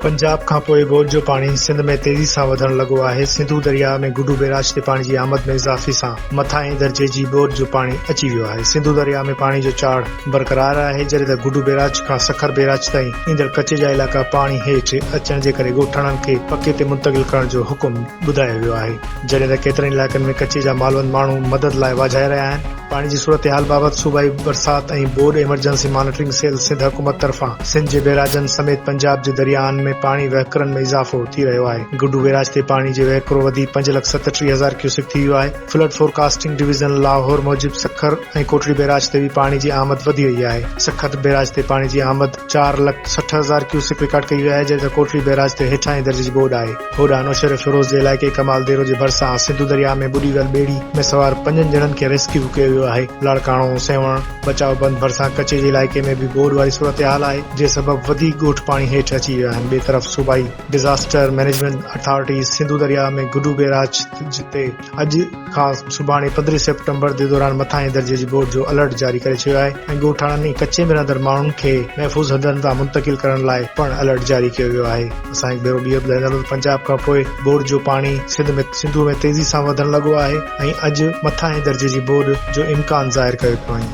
پنجاب کان پوء ٻوڏ جو پاڻي سنڌ ۾ تيزي سان وڌڻ لڳو آهي، سنڌو درياهه ۾ گڊو بيراج تي پاڻي جي آمد ۾ اضافي سان مٿاهين درجي جي ٻوڏ جو پاڻي اچي ويو آهي، سنڌو درياهه ۾ پاڻي جو چاڙهه برقرار آهي، جڏهن ته گڊو بيراج کان سکر بيراج تائين ايندڙ ڪچي جا علائقا پاڻي هيٺ اچڻ جي ڪري ڳوٺاڻن کي پڪي تي منتقل ڪرڻ جو حڪم ٻڌايو ويو آهي. جڏهن ته ڪيترن ئي علائقن ۾ ڪچي جا مالوند ماڻهو مدد لاء واجهائي رهيا آهن. پاڻي جي صورتحال بابت صوبائي برسات ۽ ٻوڏ ايمرجنسي مانيٽرنگ سيل سنڌ حڪومت طرفان سنڌ جي بئراجن سميت پنجاب جي درياهن ۾ پاڻي وهڪرن ۾ اضافو ٿي رهيو آهي گڊو بئراج تي پاڻي جي وهڪرو وڌي پنج لک ستٽيهه هزار ڪيوسڪ ٿي ويو آهي فلڊ فورڪاسٽنگ ڊويزن لاهور موجب سکر ۽ ڪوٽڙي بئراج تي به پاڻي جي آمد وڌي وئي آهي سکر بئراج تي پاڻي جي آمد چار لک سٺ هزار ڪيوسڪ رڪارڊ ڪئي وئي آهي جڏهن ته ڪوٽڙي بئراج تي هيٺاهين درجي جي ٻوڏ آهي. هوڏانهن نوشهري فيروز جي علائقي ڪمال ديرو جي ڀرسان سنڌو درياهه ۾ ٻڏي ويل ٻيڙي ۾ سوار پنجن ڄڻن کي ريسڪيو ڪيو ويو آهي. لاڙڪاڻو، سيوهڻ، بچاء بند ڀرسان ڪچي جي علائقي ۾ به ٻوڏ واري صورتحال آهي، جنهن سبب وڌيڪ ڳوٺ پاڻي هيٺ اچي ويا آهن، ٻئي طرف صوبائي ڊزاسٽر مئنيجمينٽ اٿارٽيز سنڌو درياهه ۾ گڊو بيراج تي اڄ کان سڀاڻي پندرهين سيپٽمبر جي دوران مٿاهين درجي جي ٻوڏ جو الرٽ جاري ڪري ڇڏيو آهي ۽ ڳوٺاڻن ۽ ڪچي ۾ رهندڙ ماڻهن کي محفوظ هنڌن تان منتقل ڪرڻ لاء پڻ الرٽ جاري ڪيو ويو آهي اسان هڪ ڀيرو ٻيهر ٻڌائيندا ته پنجاب کان پوء ٻوڏ جو پاڻي سنڌ ۾ سنڌوء ۾ تيزي سان وڌڻ لڳو آهي ۽ اڄ مٿاهين درجي جي ٻوڏ جو امڪان ظاهر ڪيو پيو وڃي